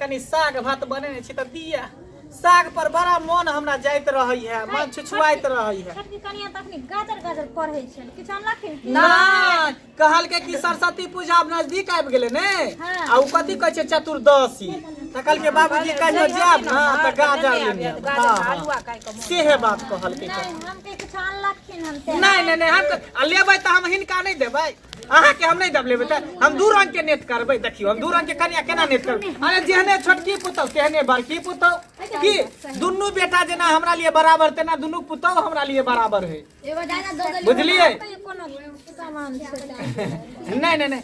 कनी साग भात बनेने छी तऽ दिया साग पर बड़ा मोन हमरा जाइत रहै है मन छुछुआइत रहै है छोटकी कनिया तऽ अखनी गाजर गाजर पढ़ै छै किछु अनलखिन की? नहि कहलकै कि सरस्वती पूजा आब नजदीक आबि गेलै ने हाँ। आ ओ कथी कहै छै चतुर्दशी तऽ कहलकै बाबूजी कहियो जायब ने तऽ गाजर लेने आयब। हाँ, हाँ। सेहे बात कहलकै नहि हम के किछु अनलखिन हम से नहि नहि नहि हम तऽ- आ लेबै तऽ हम हिनका नहि देबै अहाँ के हम नहीं दब लेबे त हम दू रंग के नेट करबे देखियो हम दू रंग के कन्या केना नेट करबे अरे जेहने छोटकी पुतौ तेहने बड़की पुतौ की दुनू बेटा जेना हमरा लिए बराबर तेना दुनू पुतौ हमरा लिए बराबर है बुझलिए नहीं नहीं नहीं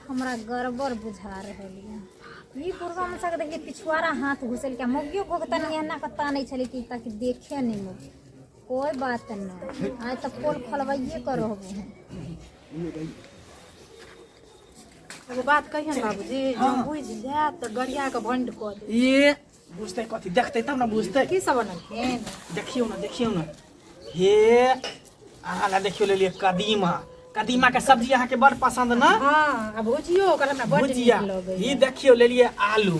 हमरा गड़बड़ बुझा रहल यऽ ई पूर्वा में सक देखिए पिछुआरा हाथ घुसल के मौगियो को तनी एना के तानै छलै कि ताकि देखे नहीं मौगी कोई बात नहीं आइ तो पोल खोलवाइए कर एगो बात कहिए ने बाबूजी हम बुझ जाए तो गरिया के बंड कर दे ये बुझते कथी देखते तब ना बुझते की सब बनलखिन देखियो ना देखियो ना हे अहाँ ला देखियो ले लिए कदीमा कदीमा के सब्जी अहाँ के बड़ पसंद ना हां अब भुजियो ओकर हमरा बड़ नीक लगे ई देखियो ले लिए आलू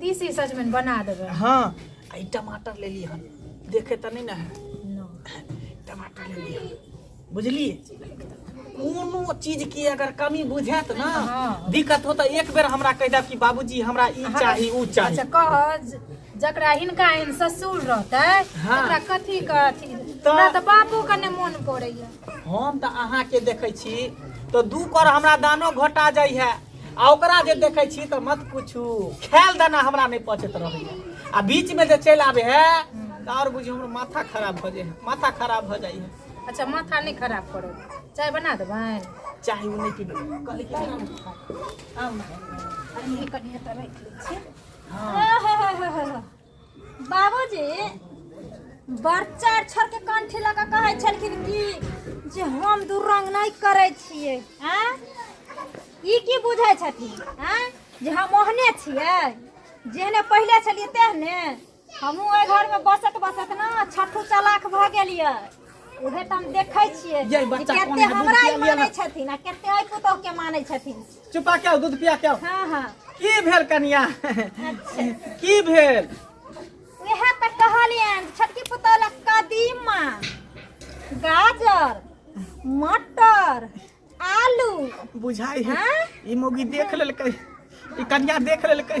तीसी सजमनि बना देबै हाँ आ ई टमाटर ले लिहन देखे तऽ नहि ने है टमाटर ले लिहन बुझलिए कोनो चीज के अगर कमी बुझायत ना हाँ। दिक्कत हो तऽ एक बेर हमरा कहि देब कि बाबूजी हमरा ई चाही ऊ चाही अच्छा कह ज- जकरा हिनका एहन ससुर रहतै हाँ। तकरा कथी के अथी तऽ- हमरा तऽ बापो के ने मोन पड़ैया हम तऽ अहाँके देखै छी तऽ दू कर हमरा दानो घोटा जाइ है आ ओकरा जे देखै छी तऽ मत पूछू खायल दाना हमरा नहि पचैत रहैए आ बीचमे जे चलि आबै है तऽ आओर बुझियौ हमर माथा खराब भऽ जाइ है माथा खराब भऽ जाइ है अच्छा माथा नहि खराब करो चाय बना देबै चाहे ओ नहि पीबै कहली कि आराम से खा। आराम से। अरे कनिए तऽ राखि लै छी हँ आह, हा, हा, हा, हा। बाबूजी बच्चा छोड़ के कंठी लगा कहे छलखिन कि जे हम दू रंग नहीं करे छिए हैं ई की बुझे छथिन हैं जे हम ओहने छिए जेहने पहले छलिए तेहने हमहूँ ओहि घर में बसत बसत ना छठू चलाक भऽ गेलिए उहे तऽ हम देखै छिए यै, जे बच्चा कोन कते है, हमरा बुझिया ई लिअ मानै ने। छथिन आ कते अइ पुतोह के मानै छथिन चुपा क्या दूध पिया क्या हाँ हाँ की भेल कनिया अच्छा की भेल वह तक कहलियन छटकी पुतौल कदीमा गाजर मटर आलू बुझाई है हाँ? ई मोगी देख लेलकै ई कनिया देख लेलकै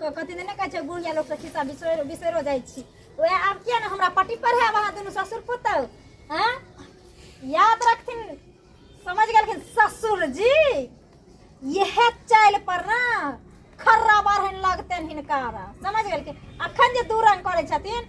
क- कथी दने कहै छै बुढ़िया लोक से खिस्सा बिसरो बिसरो जाइ छी ओए आब किया ने हमरा पट्टी पढ़ाएब अहाँ दुनू ससुर पुतहु हैं याद रखथिन समझ गेलखिन ससुर जी यह चालि पर ना खर्रा बारहन लगतनि हिनका समझ गेलखिन अखन जे दू रंग करै छथिन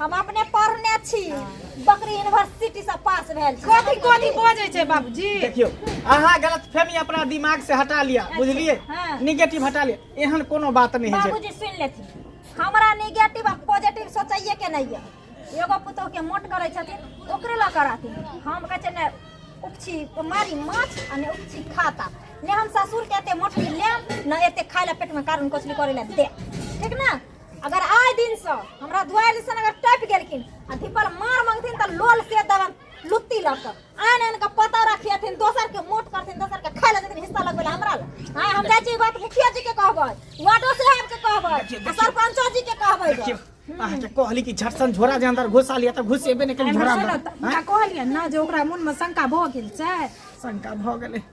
हम अपने पढ़ने छी बकरी यूनिवर्सिटी से पास भेल छी कथी कथी बजै छै बाबूजी देखियो अहाँ गलत फहमी अपना दिमाग से हटा लिया अच्छा, बुझलिए हाँ। निगेटिव हटा लिया एहन कोनो बात नहीं है बाबूजी सुन लेती हमरा निगेटिव आ पॉजिटिव सोचैए के नहीं है एगो पुतोह के मोट करे छथिन ओकरे ल कराती हम कहे छै ने उपछी मारी माछ आ ने उपछी खाता ने हम ससुर के एते मोटरी लेम ने एते खाय ला पेट में कारण कोसली करे ला दे ठीक ना अगर आए दिन से हमरा दुआर जैसन अगर टप गेलखिन आ धिपल मार मंगथिन त लोल से दबन लुत्ती लग के आन आन के पता रखियथिन दोसर के मोट करथिन दोसर के खाए लेथिन हिस्सा लगबे हमरा ले हां हम जाय छी बात मुखिया जी के कहबै वार्डो साहब के कहबै आ सरपंचो जी के कहबै देखियो अहाँ के कहली कि झटसन झोरा जे अंदर घुसा लिया त घुसेबे ने करी झोरा अंदर कहलिए ना जे ओकरा मन में शंका भऽ गेल छै शंका भऽ गेलै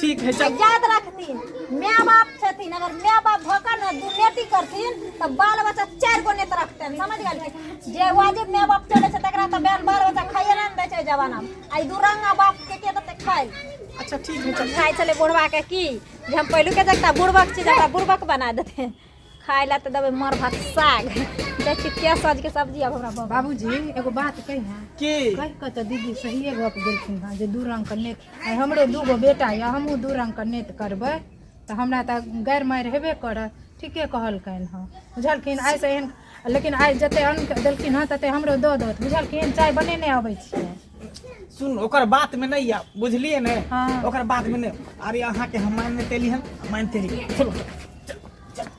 ठीक है चल याद रखथिन माय बाप छथिन अगर माय बाप भऽ कऽ ने दुर्नीति करथिन तऽ बाल बच्चा चारि गो नेत रखतनि समझ गेलखिन जे वाजिब माय बाप चलै छै तकरा तऽ बाल बाल बच्चा खाइए नहि दै छै जमानामे आ ई दुरंगा बाप के के देतै खाइ अच्छा ठीक है चल खाइ छलै बुढ़बाके की जे हम पहिलुके देखता बुढ़बक छी तऽ हमरा बुढ़बक बना देतै खाय ला तऽ देबै मर भात साग दै छी के सजके सब्जी अब हमरा बाबा बाबूजी एगो बात कही ना की कहि कऽ तऽ दीदी सहिए गप देलखिन हँ जे दू रंग के नेत आइ हमरो दू गो बेटा यऽ हमहूँ दू रंग के नेत करबै तऽ हमरा तऽ गैर मारि हेबे करत ठीके कहलकनि हँ बुझलखिन आइ से एहन लेकिन आइ जते अन्न के देलखिन हँ तते हमरो दऽ दौत बुझलखिन चाय बनेने अबै छियै सुन ओकर बात में नहीं या बुझलिए ने हाँ। ओकर बात में नहीं अरे अहाँ के हम मानने तेली हम मानते रही चलो चलो, चलो